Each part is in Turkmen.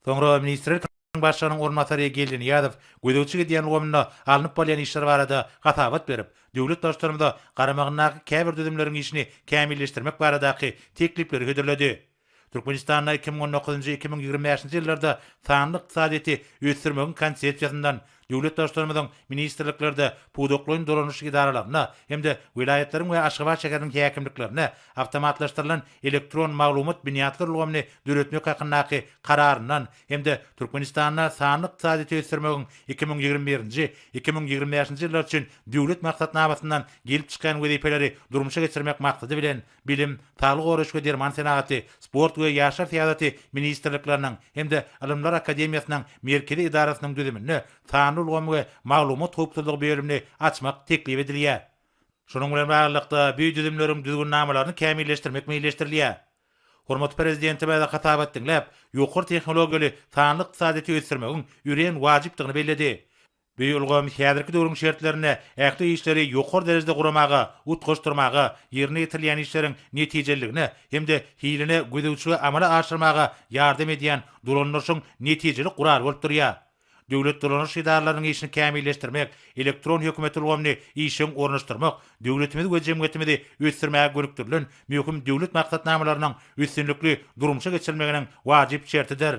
Soňra ministrl kniň başlygynyň orunbasary Geldinyýazow gözegçi gidýän ulgamynda alnyp barylýan işler barada hasabat berip, döwlet Baştutanymyza garamagyndaky käbir düzümleriň işini kämilleşdirmek baradaky teklipleri hödürledi. Türkmenistanda iki müň on dokuzynjy-iki müň ýigrimi bäşinji ýyllarda sanly ykdysadyýeti ösdürmegiň konsepsiýasyndan, Döwlet Baştutanymyzyň ministrliklerde, pudaklaýyn dolanyş edaralarynda hem-de welaýatlaryň we Aşgabat şäheriniň häkimliklerinde awtomatlaşdyrylan elektron maglumat binýatlar ulgamyny döretmek hakyndaky Kararyndan hem-de Türkmenistanda sanly ykdysadyýeti ösdürmegiň iki müň ýigrimi birinji, iki müň ýigrimi bäşinji ýyllar üçin Döwlet maksatnamasyndan gelip çykýan wezipeleri durmuşa geçirmek maksady bilen, Bilim, saglygy goraýyş we derman senagaty, Sport we ýaşlar syýasaty ministrlikleriniň hem-de Ylymlar akademiýasynyň Merkezi edarasynyň düzüminde Sanly ulgam we maglumat howpsuzlygy bölümini açmak teklip edilýär. Şunuň bilen baglylykda, bu düzümleriň düzgünnamalaryny kämilleşdirmek meýilleşdirilýär. Hormatly Prezidentimiz hasabat diňläp, ýokary tehnologiýaly sanly ykdysadyýeti ösdürmegiň örän wajypdygyny belledi. Bu ulgam häzirki döwrüň şertlerinde ähli işleri ýokary derejede guramaga, utgaşdyrmaga, ýerine ýetirilýän işleriň netijeliligine hem-de hiline gözegçiligi amala aşyrmaga ýardam edýän dolandyryşyň netijeli guraly bolup durýar. Döwlet dolandyryş edaralarynyň işini kämilleşdirmek, elektron hökümet ulgamyny işjeň ornaşdyrmak döwletimizi we jemgyýetimizi ösdürmäge gönükdirilen möhüm döwlet maksatnamalarynyň üstünlikli durmuşa geçirilmeginiň wajyp şertidir.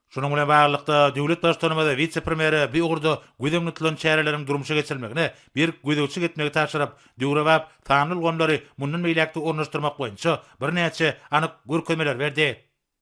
Şunuň bilen baglylykda, döwlet Baştutanymyz wise-premýere bu ugurda göz öňünde tutulan çäreleriň durmuşa geçirilmegine berk gözegçilik etmegi tabşyryp, döwrebap sanly ulgamlary mundan beýläk-de ornaşdyrmak boýunça birnäçe anyk görkezmeleri berdi.